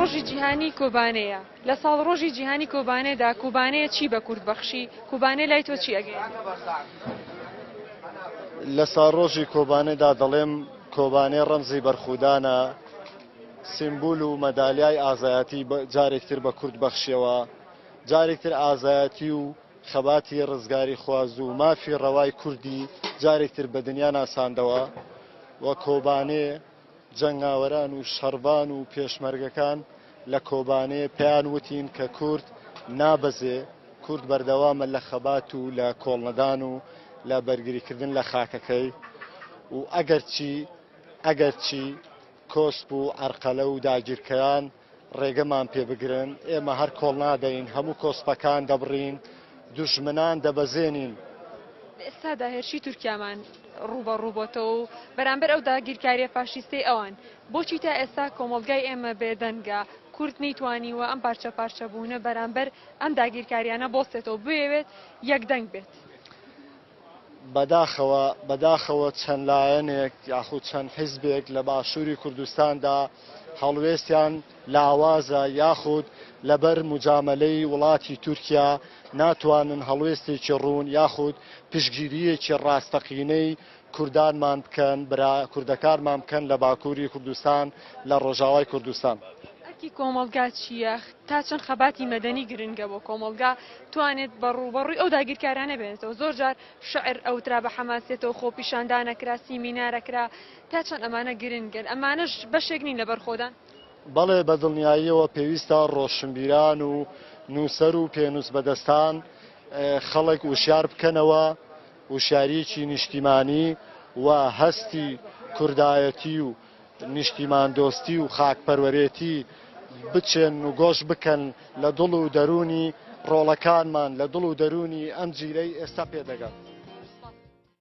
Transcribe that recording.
ڕۆژی جیهانی کۆبانێیە لە ساڵڕۆژی جیهانی کۆبانێدا کوبانەیە چی بە کورد بەخشی کوبانێ لای تۆ چی ئەگەی لە ساڕۆژی کۆبانێدا دەڵێم کۆبانێ ڕەمزی بەرخودانە سیمبول و مەدالیای ئازایەتی جارێکتر بە کورد بەخشیەوە جارێکتر ئازایەتی و خەباتی ڕزگاری خواز و مافی ڕەوای کوردی جارێکتر بە دنیا ناساندەوە و کۆبانێ، جەنگاوەران و شەڕڤان و پێشمەرگەکان لە کۆبانێ پێیان وتین کە کورد نابەزێ، کورد بەردەوامە لە خەبات و لە کۆڵنەدان و لە بەرگریکردن لە خاکەکەی و ئەگەرچی ئەگەرچی کۆسپ و عەرقەلە و داگیرکەران ڕێگەمان پێ بگرن ئێمە هەر کۆڵ نادەین هەموو کۆسپەکان دەبڕین دوژمنان دەبەزێنین. لە ئێستادا هێرشی تورکیامان ڕووبەڕوو بۆتەوە و بەرامبەر ئەو داگیرکاریە فاشیستەی ئەوان بۆچی تا ئێستا کۆمەڵگای ئێمە بێدەنگە کورد نەیتوانیوە ئەم پارچە پارچە بوونە بەرامبەر ئەم داگیرکاریانە بۆستێتەوە بوێوێت یەکدەنگ بێت؟ بەداخەوە بەداخەوە چەند لایەنێک یاخود چەند حیزبێک لە باشووری کوردستاندا هەڵوێستیان لاوازە یاخود لەبەر موجامەلەی وڵاتی تورکیا ناتوانن هەڵوێستێکی ڕوون یاخود پشتگیرییەکی ڕاستەقینەی کوردانمان بکەن برا کوردەکانمان بکەن لە باکووری کوردستان لە ڕۆژاوای کوردستان. ئەرکی کۆمەڵگا چییە؟ تا چەند خەباتی مەدەنی گرنگە بۆ کۆمەڵگا، توانێت بە ڕووبەڕووی ئەو داگیرکارانە بێنێتەوە، زۆر جار شعر ئەوترا بە حەماسیەتەوە، خۆپیشاندانە کرا، سیمینارە کرا، تا چەند ئەمانە گرنگن، ئەمانەش بەشێک نین لە بەرخۆدان؟ بەڵێ، بە دڵنیاییەوە پێویستە ڕۆشنبیران و نووسەر و پێنووسبەدەستان خەڵک وشیار بکەنەوە، وشیارییەکی نیشتیمانی و هەستی کوردایەتی و، نیشتیماندۆستی و خاکپەروەرێتی بچێن و گۆش بکەن لە دڵ و دەروونی ڕۆڵەکانمان، لە دڵ و دەروونی ئەم جیلەی ئێستا پێدەگەن.